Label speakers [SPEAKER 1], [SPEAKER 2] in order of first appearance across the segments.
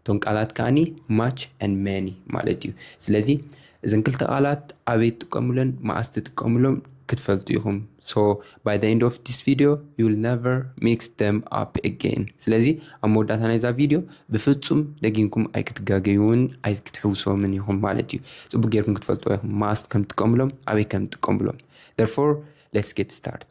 [SPEAKER 1] እቶም ቃላት ከኣኒ ማች ን መኒ ማለት እዩ ስለዚ እዘን ክልተ ቃላት ኣበይ ትጥቀሙለን መኣስ ትጥቀሙሎም ክትፈልጡ ኢኹም ሶ ባይ ዘ ኤንድ ኦፍ ዲስ ቪድዮ ዩል ነቨር ሚክስ ደም ኣፕ ኤጌን ስለዚ ኣብ መወዳእታ ናይዛ ቪድዮ ብፍጹም ደጊምኩም ኣይክትጋገዩን ኣይክትሕውሶምን ኢኹም ማለት እዩ ጽቡቅ ጌርኩም ክትፈልጥዎ ኢኹም መኣስ ከም ትጥቀሙሎም ኣበይ ከም ትጥቀሙሎም ደርፎር ሌትስ ጌት ስታርት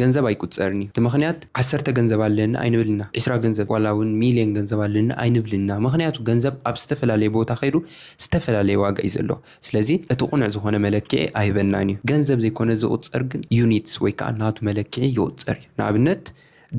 [SPEAKER 1] ገንዘብ ኣይቁጸርን'ዩ እቲ ምኽንያት ዓሰርተ ገንዘብ ኣለኒ ኣይንብል እና ዕስራ ገንዘብ ዋላ ውን ሚልዮን ገንዘብ ኣለኒ ኣይንብል እና ምኽንያቱ ገንዘብ ኣብ ዝተፈላለየ ቦታ ከይዱ ዝተፈላለየ ዋጋ'ዩ ዘለዎ ስለዚ እቲ ቁኑዕ ዝኾነ መለክዒ ኣይህበናን'ዩ ገንዘብ ዘይኮነ ዝቁጸር ግን ዩኒትስ ወይ ከኣ ናቱ መለክዒ ይቁጸር'ዩ ንኣብነት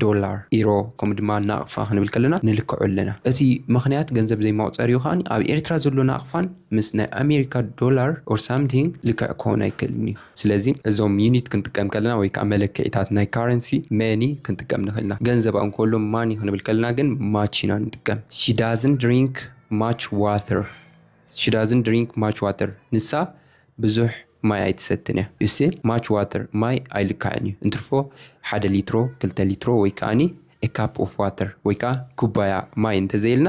[SPEAKER 1] ዶላር ኢሮ ከምኡ ድማ ናቅፋ ክንብል ከለና ንልክዖ ኣለና እቲ ምኽንያት ገንዘብ ዘይመቁጸሪኡ ከኣ ኣብ ኤርትራ ዘሎ ናቅፋን ምስ ናይ ኣሜሪካ ዶላር or something ልክዕ ክኾን ኣይክእልን'ዩ። ስለዚ እዞም ዩኒት ክንጥቀም ከለና ወይ ከኣ መለክዒታት ናይ ካረንሲ መኒ ክንጥቀም ንኽእል ኢና። ገንዘብ ኣብ እንኮሉ ማኒ ክንብል ከለና ግን ማች ኢና ንጥቀም። ሺ ዳዝንት ድሪንክ ማች ዋተር ሺ ዳዝንት ድሪንክ ማች ዋተር ንሳ ብዙሕ ማይ ኣይትሰትን እያ። ዩ ሲ ማች ዋተር ማይ ኣይልካዕን እዩ እንትርፎ ሓደ ሊትሮ ክልተ ሊትሮ ወይ ከኣኒ ኤ ካፕ ኦፍ ዋተር ወይ ከኣ ኩባያ ማይ እንተዘይኢልና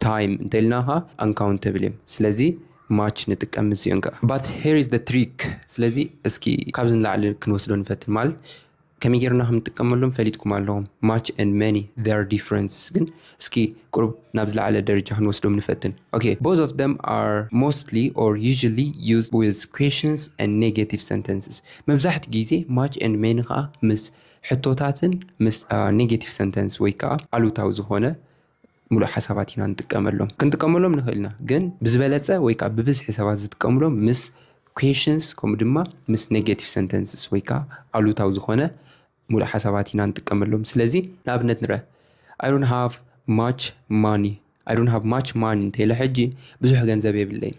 [SPEAKER 1] ታይም እንተኢልና ከኣ ኣንካውንተብል እዮም ስለዚ ማች ንጥቀም ምስዚኦን ከኣ ባት ሄር ኢዝ ዘ ትሪክ ስለዚ እስኪ ካብዚ ንላዕሊ ክንወስዶ ንፈትን ማለት ከመይ ጌርና ከም ንጥቀመሎም ፈሊጥኩም ኣለኹም ማች ኤንድ መኒ ዜር ዲፍረንስ ግን እስኪ ቁሩብ ናብ ዝለዓለ ደረጃ ክንወስዶም ንፈትን ኦኬ ቦዝ ኦፍ ደም ኣር ሞስትሊ ኦር ዩዥሊ ዩዝ ዊዝ ኩዌሽንስ ኤንድ ኔጌቲቭ ሰንተንስስ መብዛሕትኡ ግዜ ማች ኤንድ መኒ ከዓ ምስ ሕቶታትን ምስ ኔጌቲቭ ሰንተንስ ወይ ከዓ ኣሉታዊ ዝኾነ ምሉእ ሓሳባት ኢና ንጥቀመሎም ክንጥቀመሎም ንኽእል ኢና ግን ብዝበለፀ ወይ ከዓ ብብዝሒ ሰባት ዝጥቀምሎም ምስ ኩዌሽንስ ከምኡ ድማ ምስ ኔጌቲቭ ሰንተንስስ ወይ ከዓ ኣሉታዊ ዝኾነ ሙሉእ ሓሳባት ኢና ንጥቀመሎም ስለዚ ንኣብነት ንረ ኣይ ዶንት ሃቭ ማች ማኒ ኣይ ዶንት ሃቭ ማች ማኒ እንተኢለ ሕጂ ብዙሕ ገንዘብ የብለይን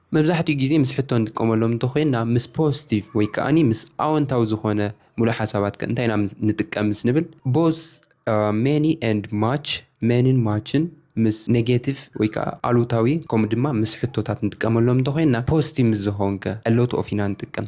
[SPEAKER 1] መብዛሕትኡ ግዜ ምስ ሕቶ ንጥቀመሎም እንተኾይንና ምስ ፖስቲቭ ወይ ከኣ ምስ ኣወንታዊ ዝኾነ ሙሉእ ሓሳባት ከ እንታይ ኢና ንጥቀም ምስ ንብል ቦዝ ሜኒ ኤንድ ማች ሜኒን ማችን ምስ ኔጌቲቭ ወይ ከኣ ኣሉታዊ ከምኡ ድማ ምስ ሕቶታት ንጥቀመሎም እንተኾይንና ፖስቲቭ ምስ ዝኾን ከ ሎት ኦፍ ኢና ንጥቀም።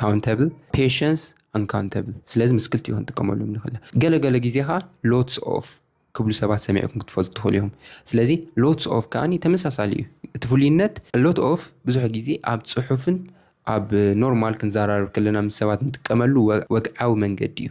[SPEAKER 1] ካውንተብል ፔሽንስ ኣንካውንተብል ስለዚ ምስ ክልቲኡ ክንጥቀመሎም ንኽእል ኢና ገለገለ ግዜ ከዓ ሎትስ ኦፍ ክብሉ ሰባት ሰሚዕኩም ክትፈልጡ ትኽእሉ እዮም ስለዚ ሎትስ ኦፍ ከዓኒ ተመሳሳሊ እዩ እቲ ፍሉይነት ሎት ኦፍ ብዙሕ ግዜ ኣብ ፅሑፍን ኣብ ኖርማል ክንዘራረብ ከለና ምስ ሰባት ንጥቀመሉ ወግዓዊ መንገዲ እዩ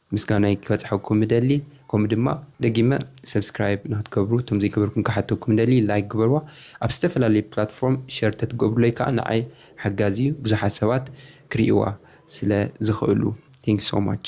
[SPEAKER 1] ምስጋናይ ክበጽሐኩም እደሊ ከምኡ ድማ ደጊመ subscribe ንክትገብሩ እቶም ዘይገበርኩም ክሓተኩም እደሊ like ግበርዋ ኣብ ዝተፈላለየ platform share ተትገብሩለይ ከኣ ንዓይ ሓጋዚ እዩ ብዙሓት ሰባት ክርእይዋ ስለ ዝኽእሉ thanks so much።